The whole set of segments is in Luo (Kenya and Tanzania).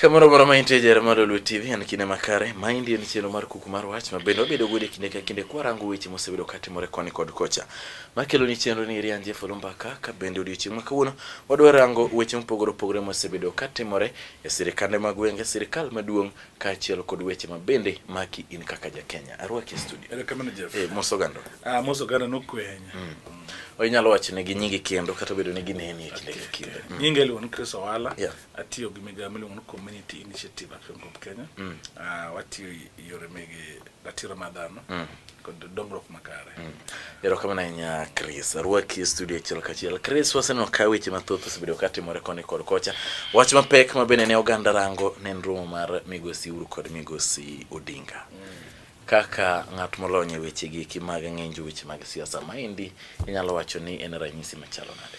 Kamano bora ma intie jere mar Lulu TV en kinde makare. Ma indie ni chenro mar kuku mar wach ma bende wabedo godo e kinde ka kinde kwa rango weche mosebedo katimore koni kod kocha. Ma kelo ni chenro ni Rian Jeff Lumbaka ka bende odiochieng' ma kawuono wadwa rango weche mopogore opogore mosebedo katimore e sirikande mag wenge, sirikal maduong' kaachiel kod weche ma bende maki in kaka ja Kenya. Arwaki e studio. Kamano Jeff. Eh, moso gando. Ah, moso gando nokwenya. Mm. Onyalo wacho ne gi nyingi kendo kata bedo ni gineni e kinde ka kinde. Mm. Nyinga iluon Chris Owala. Yeah. atiyo gi migawo miluongo ni community initiative action group kenya mm. uh, watiyo yore meg ratiro mar dhano mm. kod dongruok makare mm. erokamano ahinya chris arwaki e studio achiel kachiel chris waseneno ka weche mathoth osebedo katimore koni kod kocha wach mapek ma bende ne oganda rango ne en romo mar migosi uru kod migosi odinga mm kaka ng'at molony e weche gi mag ng'injo weche mag siasa maendi inyalo wacho ni en ranyisi machalo nade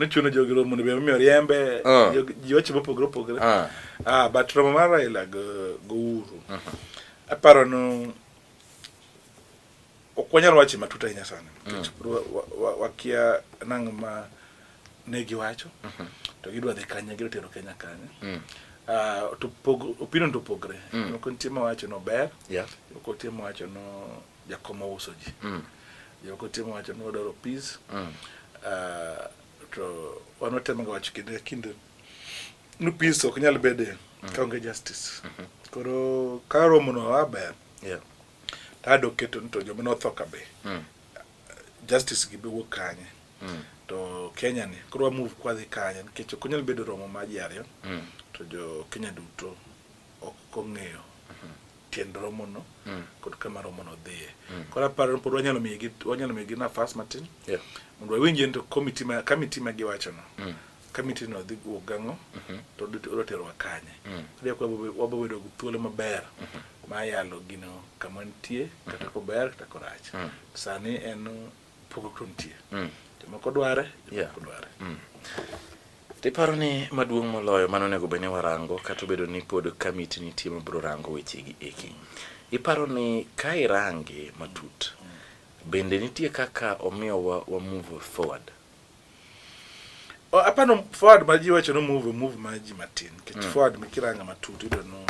nochuno jogi romo mondo be omiyo riembe ah. ji wacho mopogore opogore ah. ah, but romo mar Raila go Uhuru uh-huh. aparo no ok wanyal wache matut ahinya sana mm. wakia nang' ma ne giwacho uh-huh. to gidwa dhi kanye gidwa tero Kenya kanye mm. ah, to opinion to opogre mm. moko nitie mawacho no ber moko nitie mawacho no jakom ouso ji mm. jomoko timo wacho ni wadwaro peace mm. uh, to wan watemoga wacho kinde ka kinde ni peace ok nyal bede mm. kaonge justice mm -hmm. koro ka romono waber yeah. tado keto ni to joma notho ka be mm. justice gi be wuok kanye mm. to kenya ni koro wamove kwadhi kanye nikech ok onyal bedo romo ma ji ariyo mm. to jo kenya duto ok ong'eyo tiend romono mm. kod kama romono dhiye mm. koro aparo pod wanyalo miyogi wanyalo miyogi nafas matin mondo wawinjie ni to komiti ma kamiti ma giwachono mm. kamiti no dhi wuok gang'o mm-hmm. to odwa terowa kanye koro kwa wabo bedo gi thuolo maber mm-hmm. ma yalo gino kama nitie kata mm-hmm. kober kata korach sani en Pogruok nitie. Mm. Jomoko dware, jomoko dware. Mm. Tiparo ni maduong' moloyo mano onego bed ni warango kata obedo ni pod kamiti nitie mabiro rango wechegi eki. Iparo ni ka irange matut, bende nitie kaka omiyo wa, wa move forward? Oh, hapana oh, forward maji wacho no move move maji matin kech mm. forward mikiranga matut ido no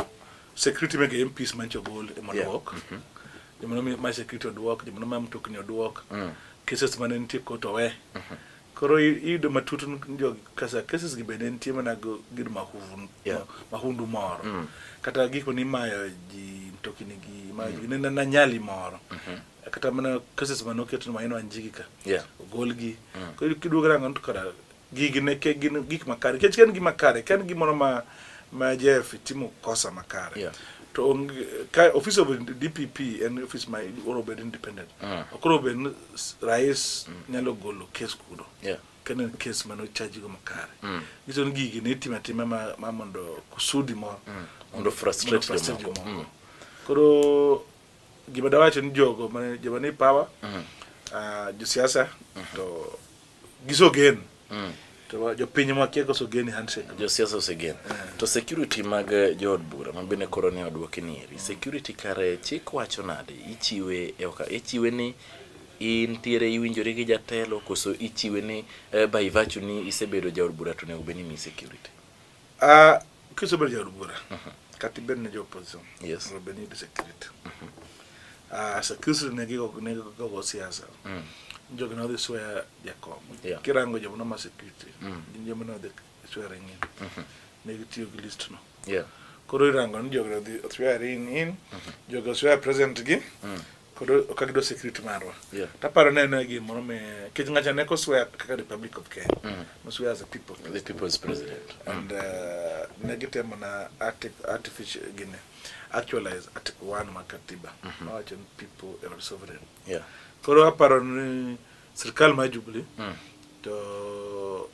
security mege em peace mancho gol e mondo walk yeah. mm -hmm. jimono mi my security od walk jimono ma mtokni od walk mm. cases mane nitie koto we mm -hmm. koro ido matut njo kasa cases gi bende nitie mana go gid mahundu yeah. mahundu moro mm. kata gik mani mayo ji mtokni gi mayo mm. -hmm. nena na nyali moro mm -hmm. kata mana cases mane oket ma inwa njigi ka yeah. ogolgi mm. koro kiduogo rango to kara gigi ne ke gin gik makare kech ken gima kare ken gimoro ma ma JF timo kosa makare yeah. to ong, ka office of DPP en office ma oro bed independent mm. okoro bed rais mm. nyalo golo case kudo yeah kene case mano charge go makare mm. giton gigi ne tima tima ma, ma mondo kusudi mo mm. mondo frustrate, frustrate mo mm. koro Gima dawacho ni jogo mane joma ni power mm -hmm. uh, ah, josiasa mm -hmm. to gisogen mm -hmm. to jopiny makiego sogeni handshake josiasa osegen yeah. Mm. to security mag eh, jood bura ma bende koro ne odwoki ni eri security kare chik wacho nade ichiwe e oka ichiwe ni intiere iwinjore gi jatelo koso ichiwe ni uh, by virtue ni isebedo jaod bura to onego bed ni mi security Ah, que sobre já rubura. Kati ben na oposição. Yes. Ro ben de secreto. Ah, sa kusu ne ki ko ne ko ko siasa. Mm. Njo kana de soya ya kom. Yeah. Kirango jamu na ma security. Mm. Njo mana de soya rengi. Mm-hmm. Ne ki tiyo ki list no. Yeah. Koro irango njo kana de soya rin in. Njo kana soya present gi. Mm. kod ka gido security marwa yeah. taparo ne ne gimoro me kech ngacha ne koswear kaka republic of kenya mm. noswear as a people the people's president and mm. uh, ne gitemo na artificial gine actualize article 1 ma katiba mm -hmm. wacho ni people are sovereign yeah koro aparo ni sirkal ma jubilee mm. to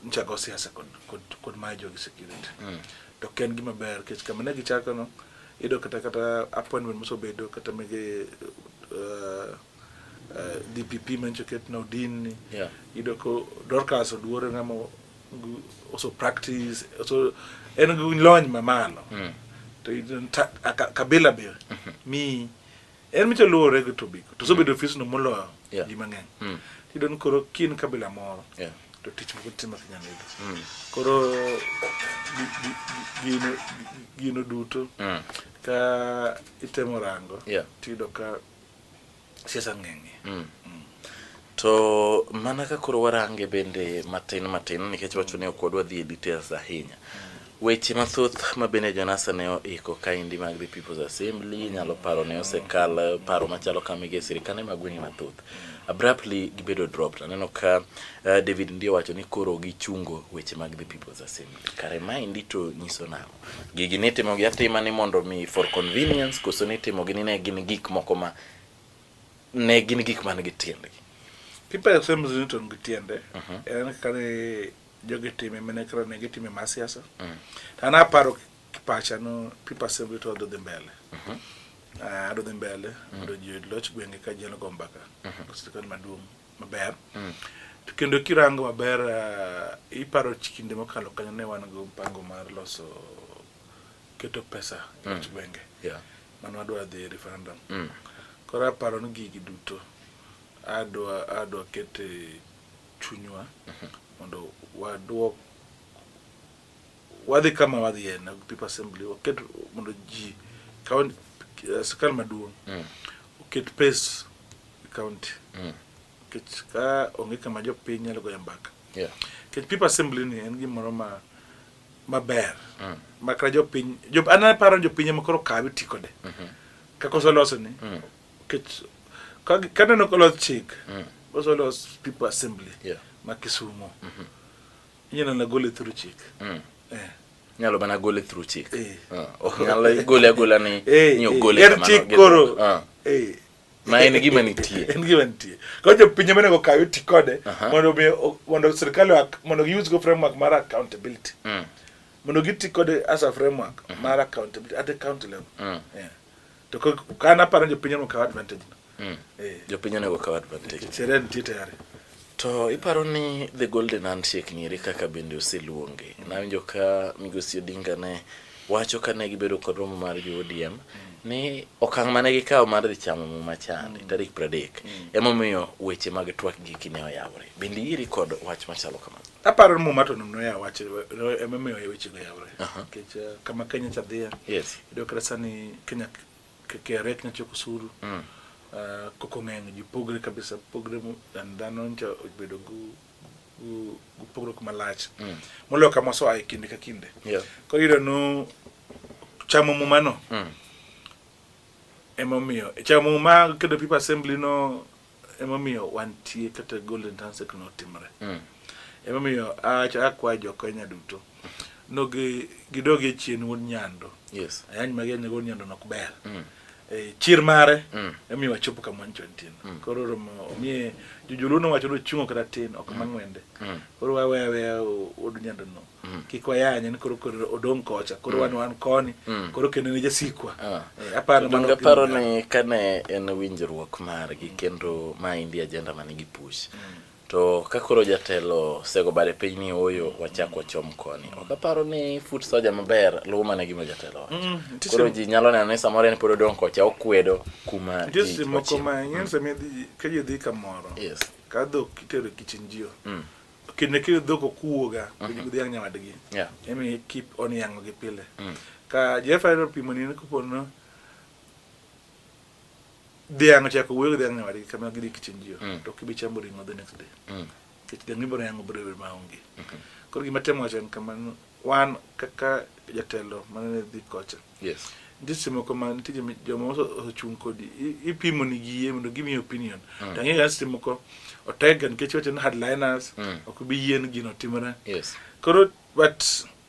nyicha go siasa kod, kod, kod mayo jogi security mm. to ok en gima ber kech kama ne gichako no iyudo kata kata appointment mosebedo kata mege uh, uh, DPP mancho ket na odin ni yeah. iyudo ko Dorcas oduore ng'ama also practice also en gi lony mamalo mm. to kabila be mm-hmm. mi en micho luwore gi tobiko to sobedo mm. ofisno moloyo yeah. ji mang'eny mm. tiyudo ni koro kin kabila moro yeah. to tich moko timo kinyalo yudo mm. koro gino, gino duto mm. ka itemo rango yeah. tiyudo ka siasa ng'eng'e mm. mm. To mana ka koro warange bende matin matin nikech wacho ni ok wadwa dhi e details ahinya. Weche mathoth ma bende Jonasa ne oiko kaendi mag the People's Assembly nyalo paro ne osekal paro machalo kama e sirkande mag gwenge mathoth. Abruptly gibedo dropped. Aneno ka uh, David ndiye owacho ni koro gichungo weche mag the People's Assembly. Kare maendi to nyiso nang'o? Gigi nitimogi atima ni mondo mi for convenience koso nitimogi ni ne gin gik moko ma ne gin gik man gi tiendgi people asem ziniton gi tiende mhm. en kane jogi time mene kra ne gitime mar siasa mhm. to an aparo pacha no people assembly to dhi mbele mhm. ah, adhi mbele mondo ji oyud loch gwenge ka jeno go mbaka sirikal maduong' maber to kendo kirango maber ah, iparo kinde mokalo kanyo ne wan go mpango mar loso keto pesa e gwenge mane wadwa dhi e referendum mm. koro aparo ni gigi duto adwa adwa kete chunywa mhm. mondo wadwok wadhi kama wadhi en people assembly waket mondo ji kaunti eh, sirkal maduong' mm. oket pes kaunti mm. nikech ka onge kama jopiny nyalo goyo mbaka nikech people assembly ni en gimoro ma maber mm. ma kata jopiny jop, an aparo ni jopiny ema koro kawe ti kode mm -hmm. kaka oseloso ni mm. kech kaneno kolos chik mm. oselos people assembly yeah. ma Kisumo mm -hmm. inyalo na gole through chik mm. eh. nyalo mana gole through chik eh. uh, ok nyalo gole agola ni eh, ni ogole eh. kamano chik koro uh. eh. ma en gima nitie en gima nitie koro jopinje monego okawe ti kode mondo mi mondo sirkal mondo gi use go framework mar accountability mm. mondo gi ti kode as a framework mm-hmm. mar accountability at the county level mm. yeah. to kana paro jopinje mokaw advantage no mm. eh. jopinje onego okaw advantage sere nitie tayari To iparo ni The Golden Handshake nieri kaka bende oseluonge. Nawinjo ka Migosi Odinga ne wacho kane gibedo kod romo mar jo ODM ni okang' mane gikawo mar dhi chamo muma chande mm. tarik pradek mm. emomiyo weche mag twak giki ne oyawore bende iri kod wach machalo kamano aparo ni muma to noya wach emomiyo wechego yawore nikech eh, kama kenya cha dhiye yes iyudo kata sani kenya Keke rek na choko suru. Mm. Uh, koko ng'eny ji pogre kabisa pogre mu dan dhano ncha obedo gu gu gu pogre kuma lach. Mm. Molo kama so ai kinde ka kinde. Yeah. Ko yudo no chamo mu mano. Mm. Emo miyo. Chamo mu ma kedo people assembly no Emomiyo wantie kata Golden Handshake notimre. Mm. Emomiyo akwayo jo Kenya duto no gidogi chien wuod nyando. Yes. Ayany magi anyago wuod nyando nok ber. Mm. E, chir mare mm. emiyo wachopo kama ncho ntin mm. koro oromo omiye jojoluo nowacho ni ochungo kata tin ok mm. mang'wende mm. koro waweya weya wuod nyando no Mm. kik wayany en koro koro odong kocha koro mm. wan wan koni mm. koro kendo ne jasikwa ah. eh, aparo mana aparo ni kane en winjruok margi kendo ma indi agenda ma nigi push to ka koro jatelo sego bare piny ni oyo wachak wachom koni ok aparo ni foot soja maber luwo mana gima jatelo wacho koro ji nyalo neno ni samoro en pod odong kocha okwedo kuma ji moko ma nyensa mi ka ji dhi kamoro yes ka dhok itero kichinjio kinde kile dhok okuwoga uh mhm. -huh. dhiang' nyawadgi yeah. emi keep on yang'o gi pile mm. ka Jehova ero pimo ni kopo no dhiang' ochako wuoyo gi dhiang' nyawadgi kama gidhi kichinjio mm. to kibi chambo ring'o the next day mm. kech dhiang' ibiro yang'o biro bedo maonge mm -hmm. koro gima temo wacho en kamano wan kaka jatelo manene dhi kocha Yes. Ndisi moko ma nitie joma osechung' kodi ipimo ni gi yie mondo give me opinion. Mm. Tangi ga ndisi moko otega nikech wacho ni headliners mm. ok bi yien gino timre. Yes. Koro but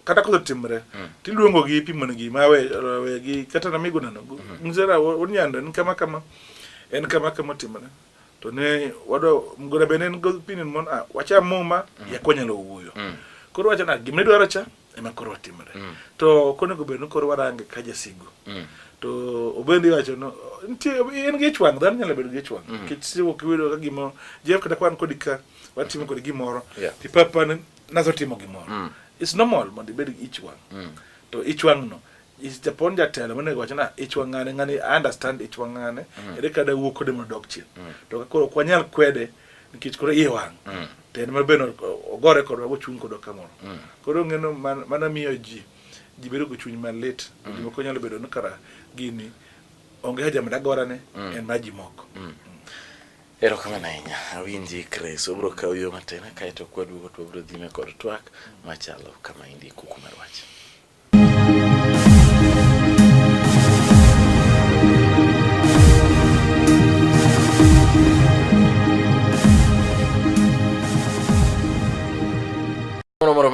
kata koso timre mm. tiluongo gi ipimo ni gi ma we, we gi kata na migo nano. Mm. Mm-hmm. Nzera wonyanda ni kama kama en kama kama timre. To ne wado mgora benen go opinion mon a ah, wacha muma mm. yakonyalo wuyo. Mm. Koro wacho na gimne dwaro cha. ema koro watimore mm. to konego bed ni koro warange ka jasigu mm. to obendi wacho no nitie en gi chwang dhano nyalo bedo gi chwang mm. nikech siwo kiwiro ka gimo jeff kata kwan kodi ka watimo kodi gimoro yeah. ti papa ne nazo timo gimoro mm. it's normal mondo ibed gi ichwang mm. to ichwang no japon jatelo monego wacho na ichwang ngane ngani understand ichwang ngane mm. ere kada wuok kode mondo dog chien mm. to ka koro kwanyal kwede nikech koro iye wang mm. tend ma beno ogore kodwa kochung' kodwa kamoro mm. koro ng'eno mana miyo ji ji bedo gi chuny malit mm. ji moko nyalo bedo ni kara gini onge haja mada gorane mm. en ma ji moko mm. erokamano ahinya awinji kres obro kawo yo matin kaeto kwaduogo to wabro dhime kod twak machalo kama indi kuku mar wach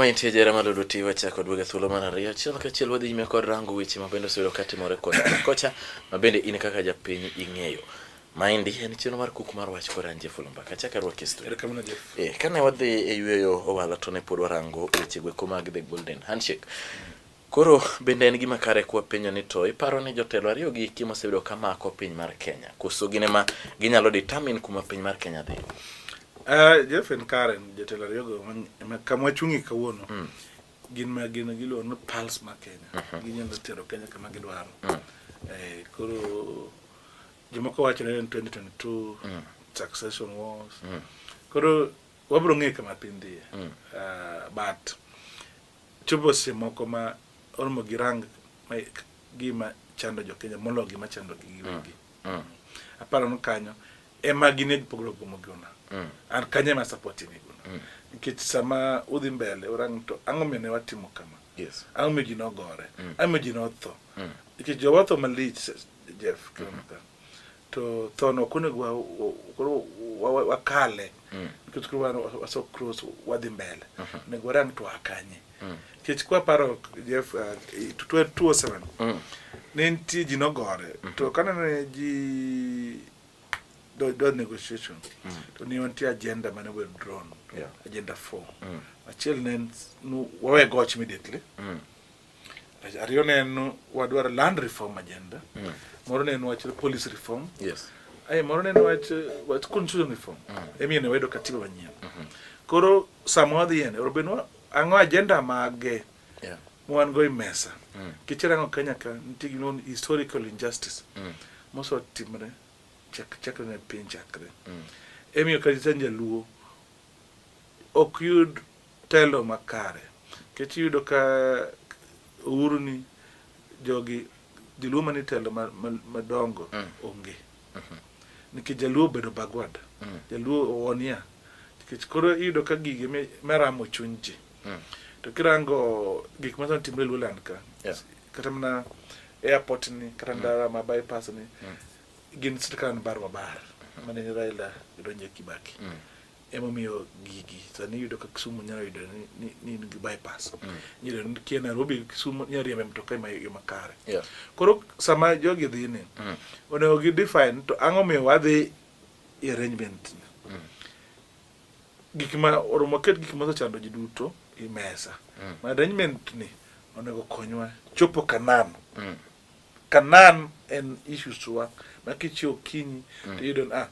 Nitie jera ma Lulu Tiwa chako duoga thuolo mar ariyo achiel kachiel wadhi nyime kod rango weche ma bende oseyudo ka timore kod kocha ma bende in kaka japiny ing'eyo. Maendi en chenro mar kuku mar wach kora Jeff Olomba kacha ka rwaki studio. Erokamano Jeff. Eh, kane wadhi e yueyo owala to ne pod warango weche gweko mag The Golden Handshake. Koro bende en gima kare kwa penyo ni to iparo ni jotelo ariyo gi kimo sebedo kamako piny mar Kenya. Koso gine ma ginyalo determine kuma piny mar Kenya dhi. Uh, Jeff en kare jotelo ariyo go kamwa chungi kawuono. Mm. Gin ma gin giluwo ni pulse mar Kenya. Mm -hmm. Ginyalo tero Kenya kama gidwaro. Mm. Eh, koro Jomoko wacho ni 2022 mm. succession wars. Mm. Koro wabro ng'e kama piny dhiye. Mm. Uh, but chopo seche moko ma oromo gi rang gima chando jo Kenya molo gima chando gi giwegi. Mm. Mm. Aparo ni kanyo ema gin e pogro gomo gona. Mm. An kanyo ema support ni gona. Mm. Nikech sama udhi mbele orang to ang'o mene watimo kama. Yes. Ang'o mene ji nogore. Mm. Ang'o mene ji notho. Mm. Nikech jowa tho malich Jeff kilomita to thono ok onego wa- wa- koro wa- wa- wakale nikech koro wan waso cross wadhi mbele onego warang to akanye nikech kwaparo Jeff uh, i- to- to- 207 ne nitie ji nogore to kanene ji do do negotiation to ne nitie agenda mane wer drone Yeah. agenda 4 achiel ne en s- nu- wawe goch immediately Ariyo ne en wadwaro land reform agenda. Mm. Moro ne en wach policy reform. Yes. Aye moro ne en wach wach constitution reform. Mm. Emiyo ne wedo katiba manyien. Mm -hmm. Koro sama wadhi ene, orobenwa ang'o agenda mage? Yeah. Mwan go mesa. Mm. Kichirango Kenya ka nitie gino historical injustice. Mm. Moso timre chak chakre ne piny chakre. Mm. Emiyo kata jaluo ok yud telo makare kech iyudo ka uhuru ni jogi joluo mani telo madongo mm. onge mm-hmm. nikech jaluo obedo bagwad mm. jaluo owonia nikech koro iyudo ka gigi meramo chuny ji mm. to kirango gik masani timre luoland ka kata mana airport ni kata ndara ma bypass ni gin sirkal ni bar wa bar mane raila donje kibaki emomiyo gigi sani iyudo ka Kisumu nyalo yudo ni ni gi bypass mm. nyalo ni kia Nairobi Kisumu nyalo riembe mtoka ma yo makare yeah. koro sama jogi dhi ni mm. onego gi define to ang'o miyo wadhi e arrangement mm. gik ma oromo ket gik ma osechando ji duto e mesa mm. ma arrangement ni onego konywa chopo Kanan mm. Kanan en issues wa ma kichio kinyi mm. to yudo ah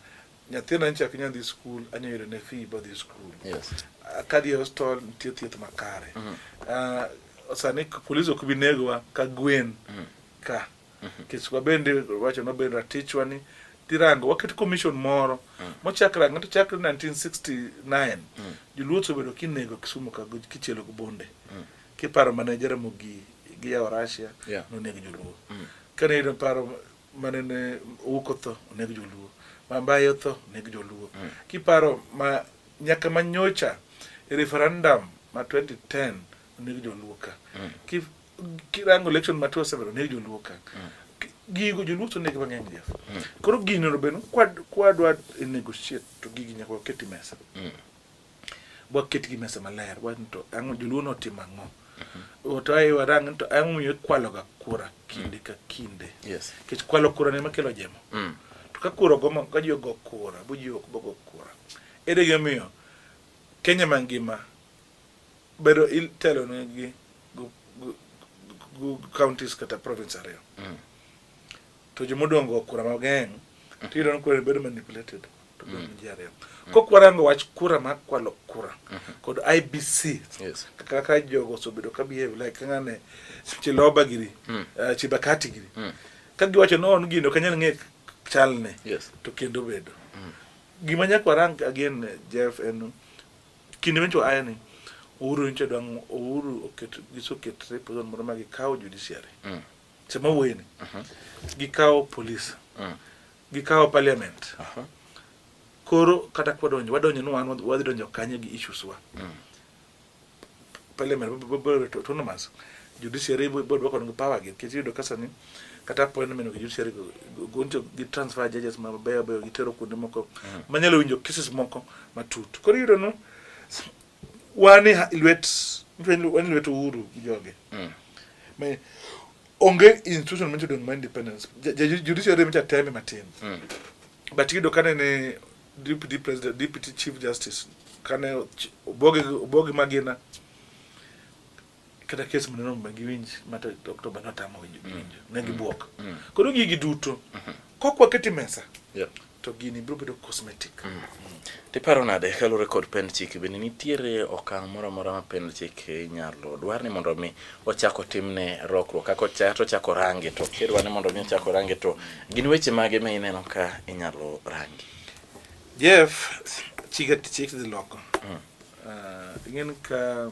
Nyathina nyicha ok nyal dhi skul, anyalo yudo ne fee bodhi skul. Yes. Ah, Kadhi e hostel nitie thieth makare. Mm -hmm. uh, sani polis ok bi negowa ka gwen mm -hmm. ka mm -hmm. kech wabende wacho nobed ratichwa ni tirango waket commission moro mm. mochakra ng'ato chakre 1969 mm. joluo osebedo kinego kisumo ka kichielo gi bonde mm. kiparo manejera mogi gi yawo russia yeah. nonego joluo mm. kane yudo paro manene owuok otho oneg joluo mambaye otho oneg joluo mm. kiparo ma nyaka manyocha e referendum ma 2010 oneg joluo ka mm. kirango election ma 27 oneg joluo ka mm. gigo joluo to oneg mang'eny jef mm. koro gino beno kwadwa e negotiate to gigi nyaka waketi mesa mm. waket gi mesa maler wan to ang'o joluo notimo ang'o to ae warang ni to ang'o momiyo ikwaloga kura kinde ka kinde Yes. nikech kwalo kura ne makelo jemo Mm. to ka kura ogomo ka ji ogo kura bo ji ok bogo kura ere gimomiyo kenya mangima bedo itelo ne gi gu- gu- gu- counties kata province ariyo Mm. to joma odong' go kura mang'eny to iyudo ni kura bedo manipulated to bedo mm. ji ariyo mm. kok warango wach kura mar kwalo kura mm-hmm. kod IBC kaka jogo osebedo ka behave like ng'ane Chiloba giri mm. eh, Chibakati giri ka giwacho no on gino kanyal ng'e chalne to kendo bedo gima nyaka warang again eh, Jeff en kinde mencho ayani Uhuru nche dwang' Uhuru oket gisoketre pozon moro ma gikawo judiciary sama wéy ni gi kawo police mm. gi kawo parliament koro kata kwadonjo wadonjo ni wan wadhi donjo kanye gi issues wa mm. parliament biro to autonomous judiciary biro dwoko ngi power gi kiti yudo kasa ni kata appointment gi judiciary goncho gi transfer judges ma beyo beyo gitero kuonde moko mm. manyalo winjo cases moko matut koro yudo no wan e lwet wan e lwet Uhuru gi joge mm. me onge institution ma jodong ma independence judiciary ma jateme matin mm. but yudo kane ne deputy president deputy chief justice kane obogi obogi magina kata kes mane nomi giwinj mata Oktoba notamo winjo mm. winjo ne gibuok mm. mm. koro gigi duto mm-hmm. kok waketi mesa yeah. to gini biro bedo cosmetic mm. mm. tiparo nade kaluwore kod pend chik bende nitiere okang' moro amora ma pend chik inyalo dwar ni mondo mi ochako timne rokruok kaka ochato chako range to kidwa ni mondo mi ochako range to gin weche mage ma ineno ka inyalo rangi jeff chik chik dhi loko mm. uh, ing'en ka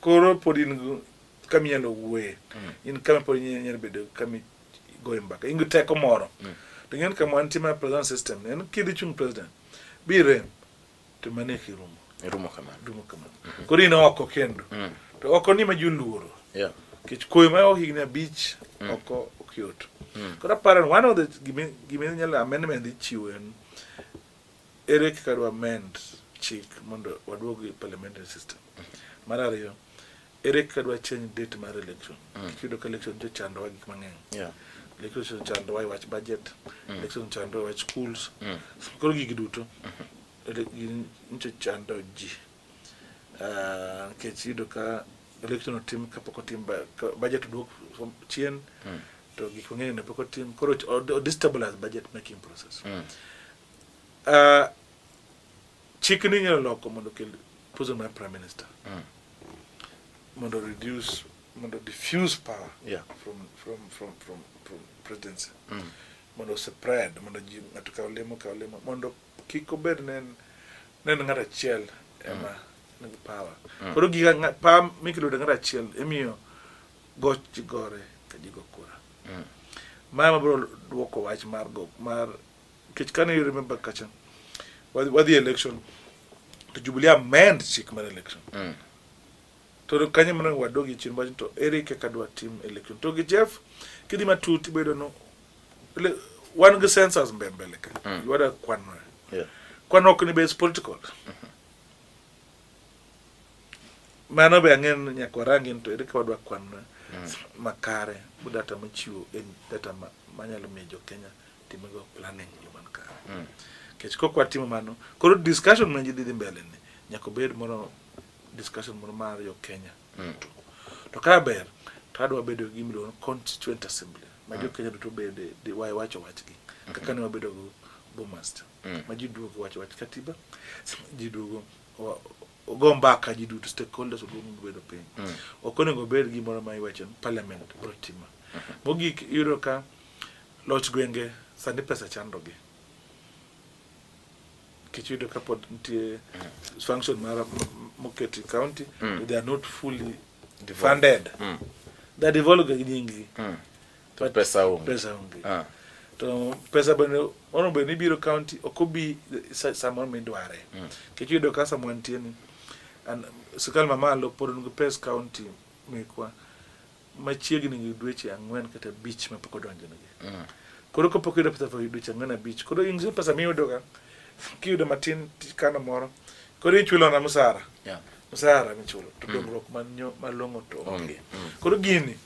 Koro pod in kama inyalo wuoye, mm. in kama pod inyalo bedo kama igoye mbaka, in gi teko moro. Mm. To ng'en kama wantie mar president system, en kidhi chung' president, bire to mane ki rumo. Rumo kamano. Rumo kamano. Mm-hmm. Koro in oko kendo. Mm. To oko ni ma ji oluoro. Yeah. Kech koyo ma higni abich mm. oko ok yot. Mm. Koro aparo one of the gima inyalo amendment ichiwo en Ere kaka dwa amend chik mondo waduog e parliamentary system? Mar ariyo, ere kaka dwa change date mar election? Mm. Kiyudo ka election jo chandowa gik mang'eny. Yeah. Election chandowa e wach budget, mm. election chandowa e wach schools. Mm. Koro gigi duto mm-hmm. nyicho chando ji. Ah, nikech uh, yudo ka election otim kapok otim budget oduok chien. Mm. To gik mang'eny ne pok otim. Koro o destabilize budget making process. Mm. Uh, chik ni inyalo loko mondo okel position mar prime minister mm. mondo reduce mondo diffuse power yeah. from, from, from, from, from presidency mm. mondo spread mondo ji ng'ato kaw lemo kaw lemo mondo kik obed nen nen ng'at achiel ema mm. nigi power mm. koro giga power mikelo de ng'at achiel emiyo goch gore ka ji go kura mm. mama bro dwoko wach mar go mar Nikech kane you remember kacha wadhi election to Jubilee amend chik mar election mm. to kanye mana wadogi chien wach to ere kaka dwa tim election to gi Jeff kidhi matut ibedo no wan gi sensors mbe mbele ka mm. yuada kwan yeah. kwan ok ni base political mm -hmm. mano be ang'en nyaka warangi to ere kaka wadwa kwan mm. makare bu data michiwo en data manyalo miyo jo Kenya timogo planning yo man kare mm. kech kok watimo mano koro discussion ma ji dhi mbele ni nyaka obed moro discussion moro mar yo Kenya mm. to, to ka ber to adwa bedo gi miluongo constituent assembly ma jo mm. Kenya duto bede di wae wacho wachgi mm-hmm. kaka ne wabedo go Bomaster mm. ma ji duogo wacho wach katiba ji duogo ogo mbaka ji duto stakeholders oduogo bedo piny mm. ok onego obed gimoro ma iwacho parliament bro timo mm-hmm. mogik yudo ka Loch gwenge sani pesa chandogi nikech yudo ka pod nitie function mara moketi county mm. they are not fully funded mm. they are developing gi nyingi mm. to pesa onge pesa onge ah. to pesa bende ono bende ibiro county ok obi samoro midware mm. nikech yudo ka samoro nitie ni sirkal mamalo pod nigi pes county mekwa machiegni gi dweche ang'wen kata abich ma pok odonjonegi. Mm. Koro ka pok iyudo pesa for dweche ang'wen abich, koro in pesa miyudoga kiyudo matin kano moro, koro ichulo na msara. Yeah. Msara michulo to mm. dongruok mm. malong'o to onge. Mm. mm. Koro gini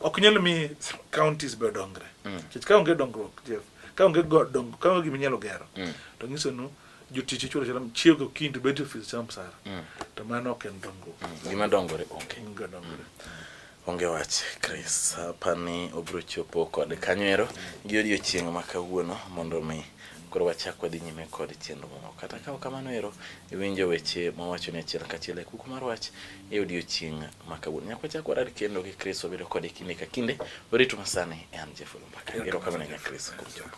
ok nyal mi counties be odongre. Mm. Kech ka onge dongruok, Jeff, ka onge dongruok, ka onge gima inyalo gero, mm. to nyiso nu jotich ichulo achuola chiew gokinyi to bet e ofis cham sara mm. to mano ok en dongruok mm. gima dongore onge gima dongore mm. onge wach Chris apani obiro chopo kod kanywero gi odiochieng' ma kawuono mondo mi koro wachak wadhi nyime kod chenro moko kata kawo kamano ero iwinjo weche mawacho ni achiel kachiel e kuku mar wach e odiochieng' ma kawuono nyaka wachak warad kendo gi Chris wabedo kode kinde ka kinde orito masani e an Jeff Lumbaka erokamano nya Chris kuom chopo